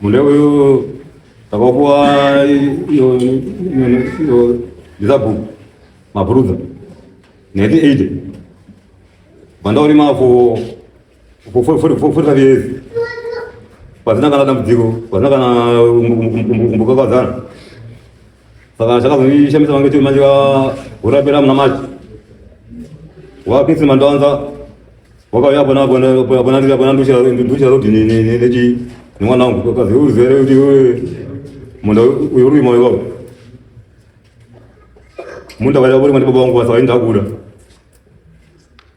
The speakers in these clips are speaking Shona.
Mune uyu takapuwa iyo iyo ndisabhuku mabhurudza 1980 vandaurima for for for for for five years pasina kana dambudziko pasina kana kumbokakadzana saka chakazondishamisa vange chiri manje urapira muna maji wakinsima ndowanza wakauya pona pona pona nduchira rodi nechi nemwana wangu kazi uzere kuti munda uyu uri moyo wako munda waida uri mwana baba wangu basa wainda kuda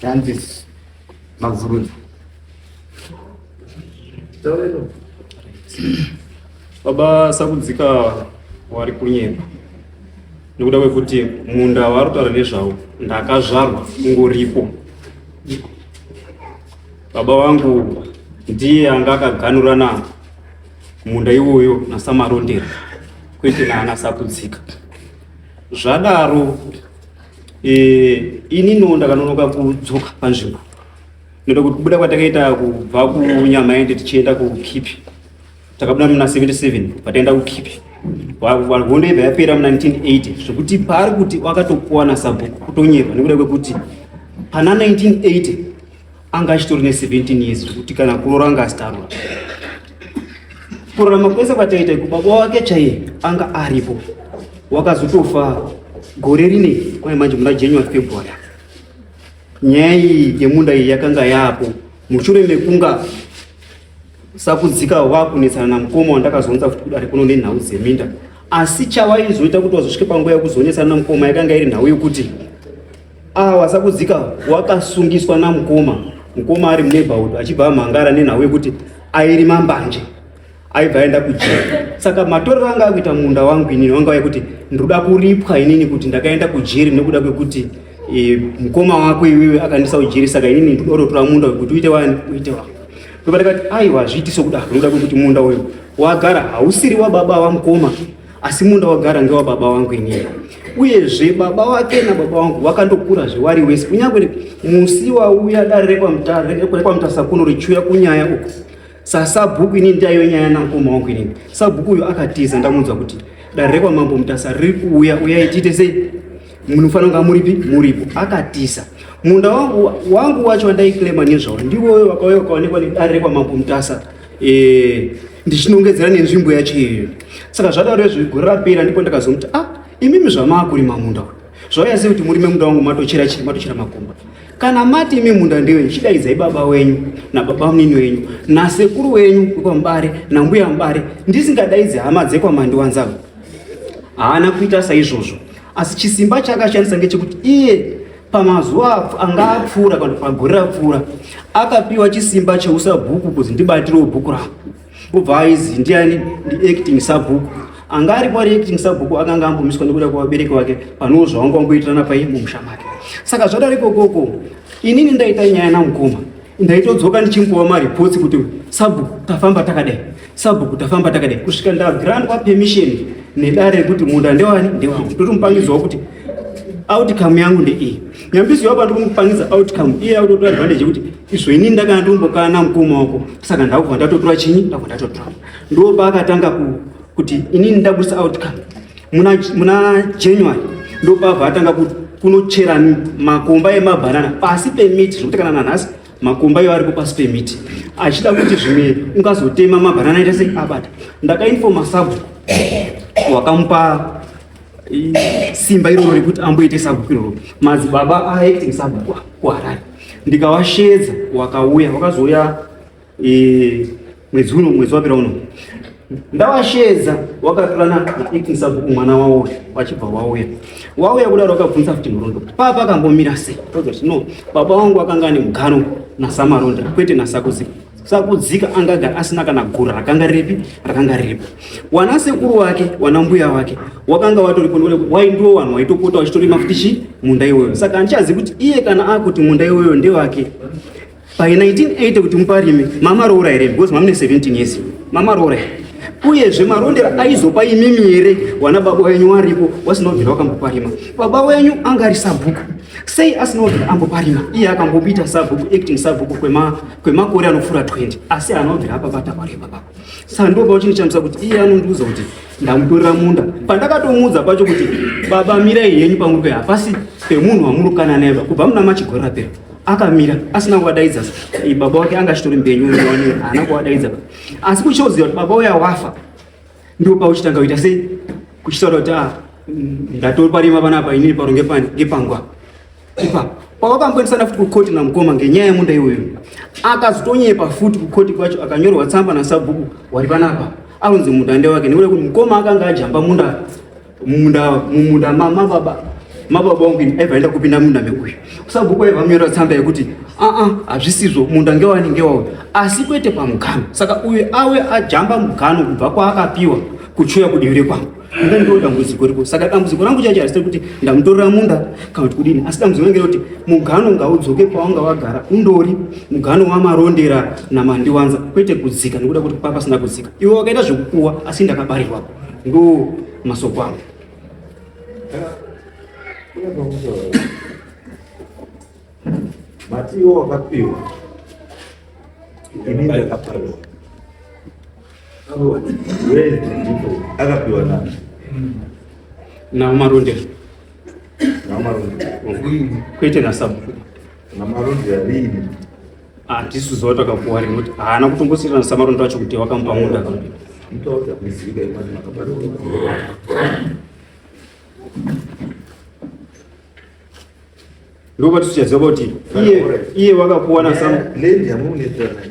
Francis Maguruni. Baba Sakudzika wari kunyepa nekuda kwekuti munda waari kutaura nezvawo ndakazvarwa ungoripo. Baba wangu ndiye anga akaganhurana munda iwoyo nasamarondera kwete naana sakudzika zvadaro e, ini no ndakanonoka kudzoka panzvimbo noda kuti kubuda kwatakaita kubva kunyamaende tichienda kukipi takabuda muna 77 pataenda kukipi hondo ibva yapera muna 1980 zvekuti paari kuti wakatokuwana sabhuku kutonyepa nekuda kwekuti pana 1980 anga achitori ne17 years zvekuti kana kurora anga asitarwa kurarama kwese kwataita ikubaba wake chaiye anga aripo wakazotofa gore rine kwaye manje muna january february nyaya iyi yemunda iyi yakanga yaapo mushure mekunga sakudzika wakunetsana namukoma wandakazonza kuti kudare kuno nenhau dzeminda asi chawaizoita kuti wazosvike panguva yekuzonetsana namukoma yakanga iri nhau yokuti Ah, wasakudzika wakasungiswa namukoma mukoma ari muneighborhood achibva amhangara nenhau yekuti airima mbanje aibva aenda kujeri saka matorero anga akuita munda wangu inini wanga wekuti ndinoda kuripwa inini kuti ndakaenda kujeri nekuda kwekuti e, mukoma wako iwewe akandisa kujeri saka inini ndinototora munda wekuti uite wani uite wako ndobatakati aiwa zviiti sokudaro ndoda kwekuti munda uyu wagara hausiri wababa wamukoma asi munda wagara ngewababa wangu inini uyezve baba wake nababa wangu vakandokura zvewari wese kunyange musi wauya dare rekwamutasakunu richiuya kunyaya uku sasabhuku inini ndaiyo nyaya namukoma wangu inini sabhuku uyo akatiza ndamunzwa kuti dare rekwamambo mutasa riri kuuya uyai tiite sei munofanira kunga muripi muripo akatiza munda wangu wacho wandaiclaima nezvawo ndiwoyo vakauya ukaonekwa nedare rekwamambo mutasa eh, ndichinongedzera nenzvimbo yacho iyoyo saka zvadaro izvi gore rapera ndipo ndakazomuti a ah, imimi zvamaakurima munda zvauya sei kuti murime munda wangu matochera chii matochera makomba kana mati imi munda ndewenyu chidaidzai baba wenyu nababa munini wenyu nasekuru wenyu wekwamubare nambuya mubare ndisingadaidzi hama dzekwamandiwanzavo haana kuita saizvozvo asi chisimba chaakashandisa ngechekuti iye Pamazuva anga apfuura kana pagore rapfuura akapiwa chisimba cheusabhuku kuti ndibatirewo bhuku ravo obva aizi ndiani ndiacting sabhuku anga aripo ari acting sabhuku akanga ambomiswa nekuda kwevabereki vake panewo zvavanga wamboitirana pai mumusha make saka zvadari kokoko inini ndaita nyaya namukoma ndaitodzoka ndichimbowa maripotsi kuti sabhuku tafamba takadai sabhuku tafamba takadai kusvika ndagrandwa permission nedare rekuti munda ndewani ndewangu ndotomupangidzawo kuti outcome yangu ndeiyi nyambiso yavo pandikumupangidza outcome iye akutotora advantage yekuti izvo inini ndakana ndombokana mukoma wako saka ndakubva ndatotora chinyi ndakubva ndatotora ndo paakatanga kuti inini ndabudisa outcome muna, muna january ndopabva atanga kunochera makomba emabhanana pasi pemiti zvekuti kana nanhasi makomba iwo aripo pasi pemiti achida kuti zvimwe ungazotema mabhanana ita sei abata ndakainfoma sabhuku wakamupa simba iroro rekuti amboite sabhuku iroro madzibaba aacting sabhuku kuharare ndikawashedza wakauya wakazouya e, mwedzi uno mwedzi wapera uno ndawashedza wakatorana naekisa buku mwana wawo wachibva wauya wauya kudaro wakabvunza kuti murondo kuti papa akambomira sei tozoti no baba wangu akanga ane mugano nasamaronda kwete nasakudzika sakudzika angaga asina kana gura rakanga ripi rakanga riripo wana sekuru wake wana mbuya wake wakanga watoripo waindiwo vanhu waitopota wachitorima futi chi munda iwoyo saka handichazivi kuti iye kana akuti munda iwoyo ndewake By 1980 kuti muparime mama roora here because mamune 17 years mama roora uyezve marondera aizopa imimi here wana baba wenyu waripo wasinobvira wakamboparima baba wenyu anga ari sabhuku sei asinobvira amboparima iye akambobita sabhuku acting sabhuku kwemakore anopfuura 20 asi anobvira apabata kwari baba saka ndobva uchindichamisa kuti iye anondiudza kuti ndamutorera munda pandakatomuudza pacho kuti baba mirai henyu pamuri pehapasi pemunhu wamurukana naye kubva muna machigorapera akamira asina kuvadaidza baba wake anga achitori mbenyu uone haana kuvadaidza asi kuchioziva kuti baba uya wafa ndipo pauchitanga kuita sei kuchitaura kuti ah, ndatori parima panapa inini paro ngepangwa ipa pavakamboendesana futi kukoti namukoma ngenyaya yemunda iyoyo akazotonyepa futi kukoti kwacho akanyorwa tsamba nasabhuku wari panapa anonzi munda ndewake nekuda kuti mukoma akanga ajamba munda mumunda mumunda mamababa mababa wangu ini aiva aenda kupinda munda mekuya kusabhuku aiva munyora tsamba yekuti aa hazvisizvo munda ngewani ngewauyo asi kwete pamugano saka uyo awe ajamba mugano kubva kwaakapiwa kuchuya kudivi rekwangu ina ndo dambudziko riko saka dambudziko rangu chacho harisiri kuti ndamutorera munda kana kuti kudini asi dambudziko rangu rekuti mugano ngaudzoke pawanga wagara undori mugano wamarondera namandiwanza kwete kudzika nekuda kuti kwapasina kudzika iwe wakaita zvekupuwa asi ndakabarirwapo Ndo masoko angu. Mati iwo wakapiwa. Ini ndakapiwa. Akapiwa nani? Na Maronde. Na Maronde. Kuite na sabu. Na Maronde ya lini? Hatisu zuva takakuwari nekuti haana kutombosirana samarondo acho kuti wakamupa munda kambiri. Ndoba tusichaziva kuti iye iye wakakuwana sam. Lendi yamunetsa naye.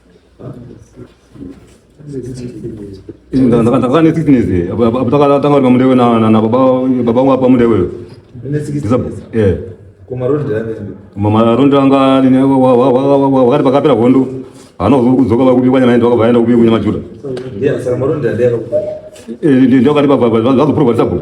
ndakazana nesickness tanga ri pamudewe nababa wapa mudewe marondi anga wakati pakapera hondo hana kudzoka vakubikwa nyama yedu vakavaenda kubikwa nyama juda ndokati vazoprova tisabhuku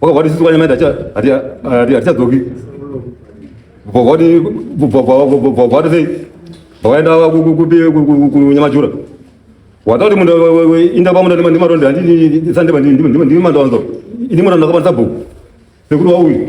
Wakavati sisi kwanyama hatichadzoki vavati sei vakaenda kunyamajura watauti munhu inda pamunda ndimaronde handisandimandimandovanzo ini munhu ndakakwanisa bhuku sekuti wauyu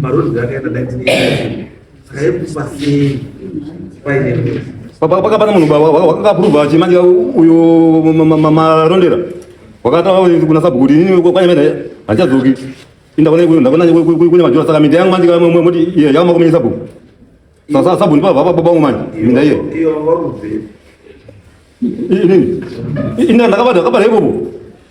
Marozvi akaenda 1980 saka yekufa sei paine mvura pakapa pane munhu wakakapuruva chimanje uyo marondera wakataura kuna sabhuku kuti ini kwanya mena handichadzoki ndakune majora saka minda yangu manje moti iye yakamakomene sabhuku sasa sabhuku ndipava baba vangu manje minda iye inini ndakabata kabata ipopo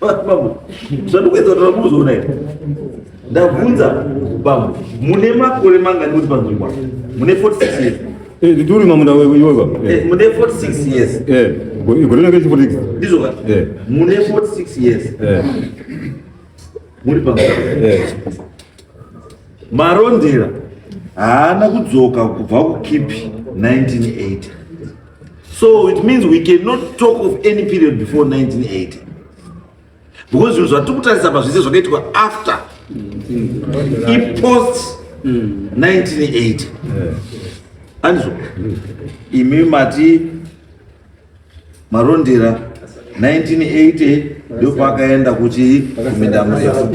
Bambo, zvandikuedza kutaura mukuzoona here? Ndabvunza bambo, mune makore mangani kuti panzvimbo apa? Mune 46 years. Eh, ndituri mamunda wewe iwe baba. Eh, Eh, mune 46 years. Eh, go- igorera ke chifo tiki. Ndizvo ka? Eh. Mune 46 years. Eh, Muri panzvimbo. eh. Marondera haana kudzoka kubva kukipi 1980. So it means we cannot talk of any period before 1980 because zvinhu zvatiri kutarisa pa zvese zvakaitwa after ipost 1980 andizvo imi mati marondera 1980 ndio pakaenda kuchii kuminda mrefu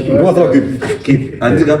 andika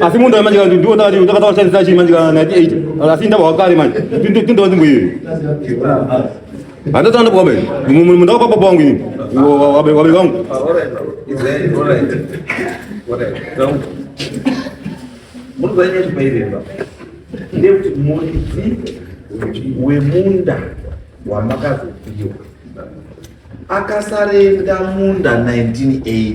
asi munhu ayo manje kanti ndiwo ndakati ndakataura chai sachi manje kana 98 asi ndabva wakare manje tindova nzvimbo iyoyo handati andabva wabe mundava kwapapa wangu ini wabe wabe wangu ndekuti muridzi wemunda wamakazopiwa akasarenda munda 1980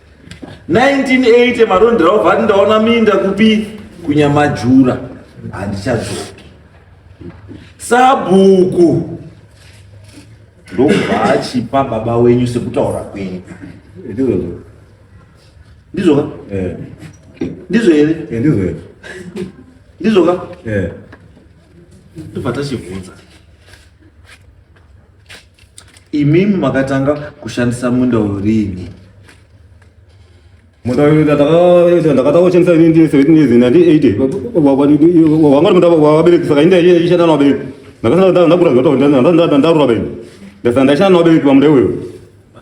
1980 marondera obva ati ndaona minda kupi kunyamajura handichadzoki sabhuku ndobva achipa baba wenyu sekutaura kwenyu ndizvoka eh. ndizvo here eh, ndizvo here ndizvoka eh. tobva tachibvunza Imimi makatanga kushandisa munda uyu riini? Munda uyu ndakatanga kushandisa ini ndine 17 years nandi 80 wanga uri munda wabereki saka inde ishanda nawabereki ndakasana ndakura zvoto ndarura bereki ndasana ndaishanda nawabereki pamunda iwoyo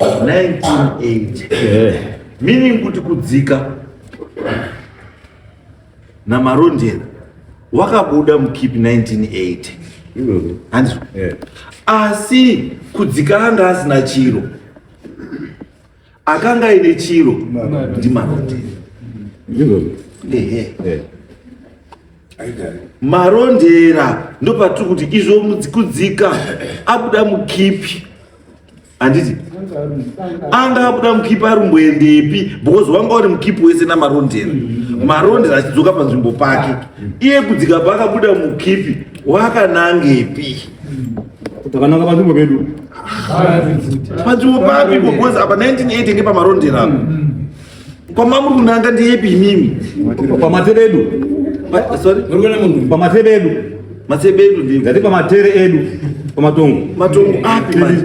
1980 meaning kuti kudzika namarondera wakabuda mukipi 1980 hanzi asi kudzika anga asina chiro akanga aine chiro ndimarondera marondera ndopatiri kuti izvo kudzika abuda mukipi handiti anga akuda mukipi ari mboendepi because wanga uri mukipi wese namarondera marondera achidzoka panzvimbo pake iye kudzika paakabuda mukipi wakanangepi takananga panzvimbo pedu panzvimbo papi because apa 1980 ngepamarondera mm. Kwamamuri kunanga ndiyepi imimi? Pamatere edu. Sorry. Muri kuona munhu. Pamatere edu. Matsebe edu ndiyo. Ndati pamatere edu. Pamatongo. Matongo api manje?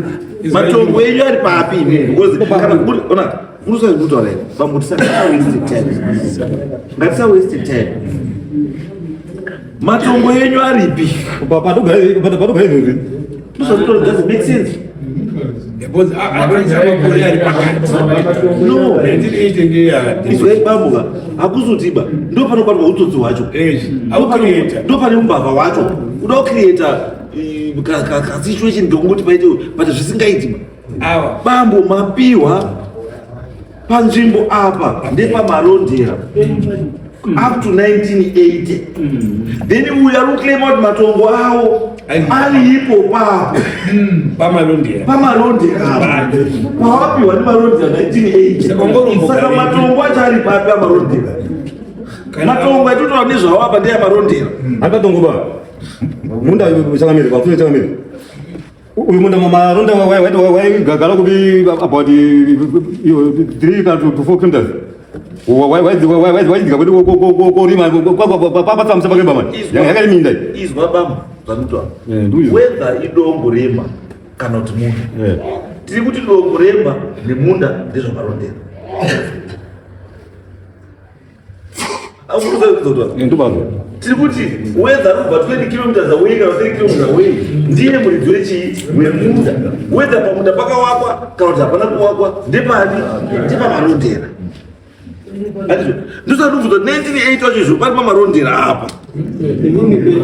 Matongo edu ari papi imimi? Because kana kuri ona kuri sai kuti wale. Bambo tisaka waste time. Ngatisa waste time. Matongo yenyu aripi? Patogara izvozvi. Ndozvatorodza make sense. Because akanzi amakore ari pakati. No. 1980 ngeya. Izwai bamuka. Hakuzotiba. Ndo panobatwa utsotsi hwacho. Eh. Hakuzotiba. Ndo pane umbavha hwacho. Kuda kucreator eh, ka ka situation ndokuti paite but zvisingaiti. Awa. Bambo mapiwa panzvimbo apa ndepamarondera up to 1980 then uya ruclaima kuti matongo awo ari ipo papo pamarondera pawapiwa nemarondera 1980saka matongo acho ari papi amarondera matongo atotaura nezvawo apa ndeyamarondera ari patongo pa munda changamire pafune changamire uyu munda mamaronda waigagara kubi about three kana to four kilometers waidzika kuti korima kwapatsa musaba kemba mani yakari minda izwa bama zvamuta whether idombo remba kana kuti munda tiri kuti dombo remba nemunda ndezvamarondera tiri kuti wedza kubva 20 kilometers away kana 3 kilometers away ndiye muridzi wechii wemunda wedza pamunda pakawakwa kana kuti hapana kuwakwa ndepani ndepamarondera ndosati ubvunza 1980 wacho izvo pari pamarondera apa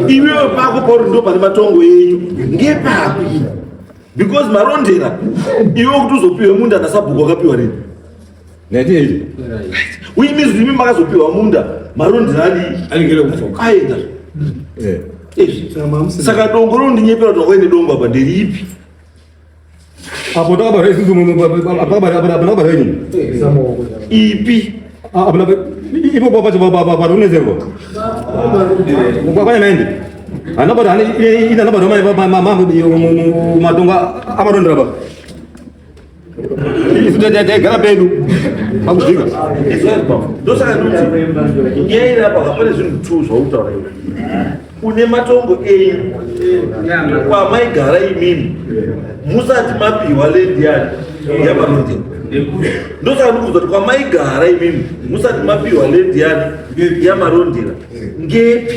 iwewe pako pauri ndo pane matongo enyu ngepapi because marondera iwe kuti uzopiwe munda nasabhuku wakapiwa rini Ngatei. Uyi mizi imi makazopiwa munda marondi nani? Anigera kufoka. Aida. Eh. Saka dongo rondinyepera kuti waine dongo apa nderipi? Apo takabara isusu apakabara ini. Ipi? Apana ipo papacho paronezerwa. Kwakwana naende. Anabara ine anabara matongo amarondera baba. Isu taigara pedu pakuzvika ndosaka ndoti nyaya iri apa hapane zvinhu two zvautaura iwe une matongo enyu kwamaigara imimi musati mapiwa lendi yani yamarondera ndosaka ndikuudza kuti kwamaigara imimi musati mapiwa lendi yani yamarondera ngepi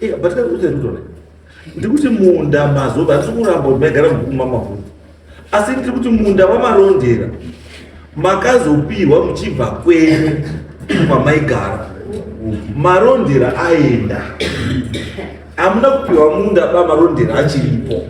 Iya, but that's what I do, right? ndikuti munda mazoba ndiri kuramba kuti maigara mubhuku mamavhura asi ndiri kuti munda wamarondera makazopihwa muchibva kwenyu kwamaigara marondera aenda hamuna kupihwa munda bamarondera achiripo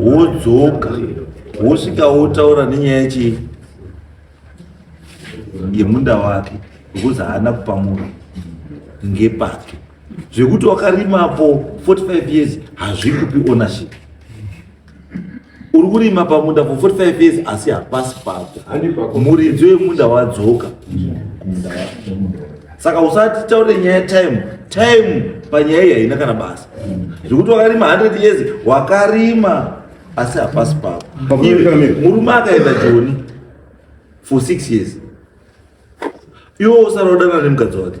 wodzoka wosvika wotaura nenyaya yechii yemunda wake because haana kupa munhu ngepake zvekuti wakarima po 45 years hazvikupi ownership uri kurima pamunda for 45 years asi hapasi pako muridzi wemunda wadzoka saka usati taure nyaya yetime time panyaya iyi haina kana basa zvekuti wakarima 100 years wakarima asi hapasi pako murume akaenda joni for six years iwo usara udana nemukadzi wake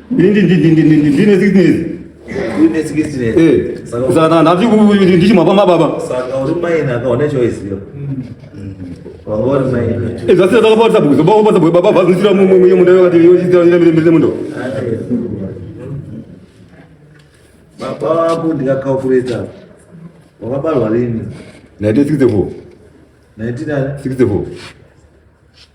ndine sickness ndichimwapa mababa zvasina takapata bhuzo bakupata bwe baba vazisira mumwe munda vakati yochitira ira mire mire mundo baba wako ndikakakureta wakabarwa lini 1964 1964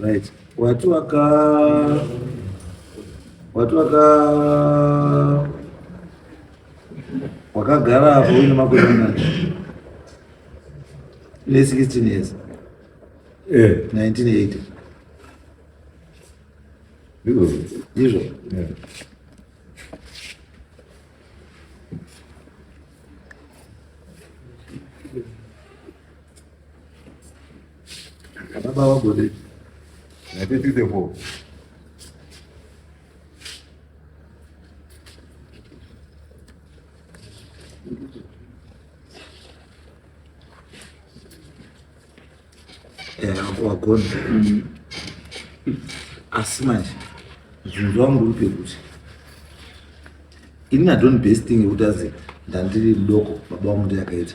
Right. Wati waka wati waka wakagara hapo uine makore mangani? Une 16 years. Eh. 1980. Ndizvo. Ndizvo. Yeah. Baba wagode. Na tete devo. Eh, hapo wagode. Mm. Asi manje. Zvinzwa murupe kuti. Ini na don't best thing yekutaze ndandiri mudoko baba wangu ndiye akaita.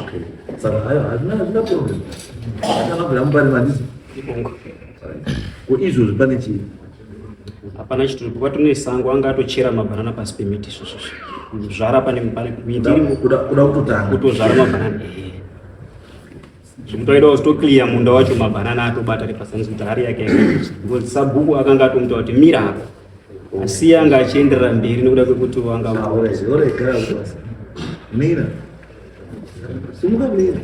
Okay. Saka hayo hazvina hazvina problem. Kana vabva mubari mandizo. Ibongo. Ko izvo zvipane chii? Hapana chituru kuba tune sango anga atochera mabanana pasi pemiti izvo izvo. Zvara pane pane miti iri kuda kuda kutotanga. Kutozvara mabanana. Zvimtoidawo zvito clear munda wacho mabanana atobata ari pasanzi kuti hari yake. Ngozi sabhuku akanga atomuta kuti mira hapo. asi yanga achienderera mberi nekuda kwekuti wanga mira simuka mira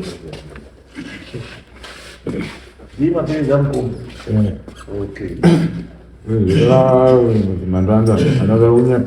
ni mapenzi ya mkuu okay Mandanda, another one.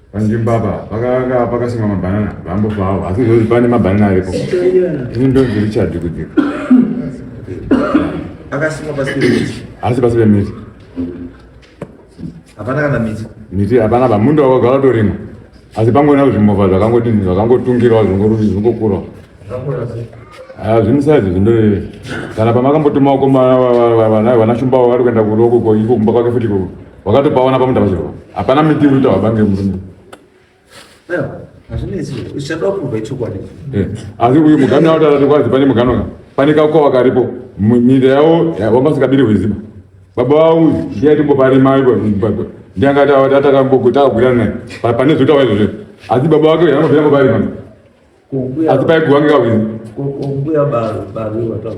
panzvimbo apa pakanga pakasimwa mabhanana vambofa avo asi zvozi pane mabhanana aripo ini ndonzi richard kudzika akasimwa pasi pemiti asi pasi pemiti hapana kana miti miti hapana pa mundo wakagara torimwa asi pangona kuti zvimovha zvakangodini zvakangotungirwa zvingokurawo Ah, zvimisazi zvindo kana pamakambotuma uko vana shumba vari kuenda kuroko ko iko kumba kwake futi koko wakatopaona pamutava chero hapana miti uri kutaura bange murume eh, asi uyu mugano yavo tatati kwazi pane mugano ka pane kakwa wakaripo nyika yavo wanga usikabiri hweziba baba vavo ndiyatimboparima ipo ndianga tatakambogutagwirana naye pane zvotawa izvozvo asi baba vake anobvira mboparima asi paigwa ngekawini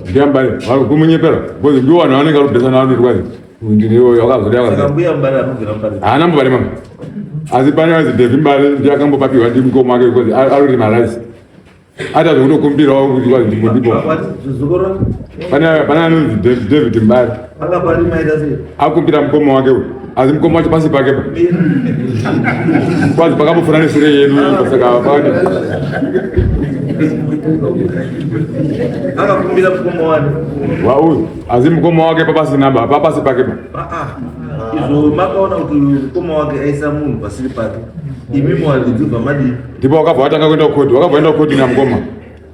ndiyambai vari kumunyepera bcoz ndiwo vanhu vanenge vari kubesana vari kuitwa ndiniyoyo akazodehaana mbare mama asi pane vanzi devi mbare ndiye akambopapiwa ndi mukoma wake bcoz arorima rice ata zvekutokumbirawo kuti kwazi ndimbo ndipo pane anonzi david mbare akupira mukoma wake uyu asi mukoma wacho pasi pake pa kwazi pakambofana neshure yedu saka pane akakumbira mukoma wake wauyu asi mukoma wake papasina ba papasi pake pa ah, ah. izvo makaona kuti mukoma wake aisa munhu pasiri pake imi mwaridzi bva madii ndipo wakabva watanga kuenda kukodhi wakabva enda kukodhi namukoma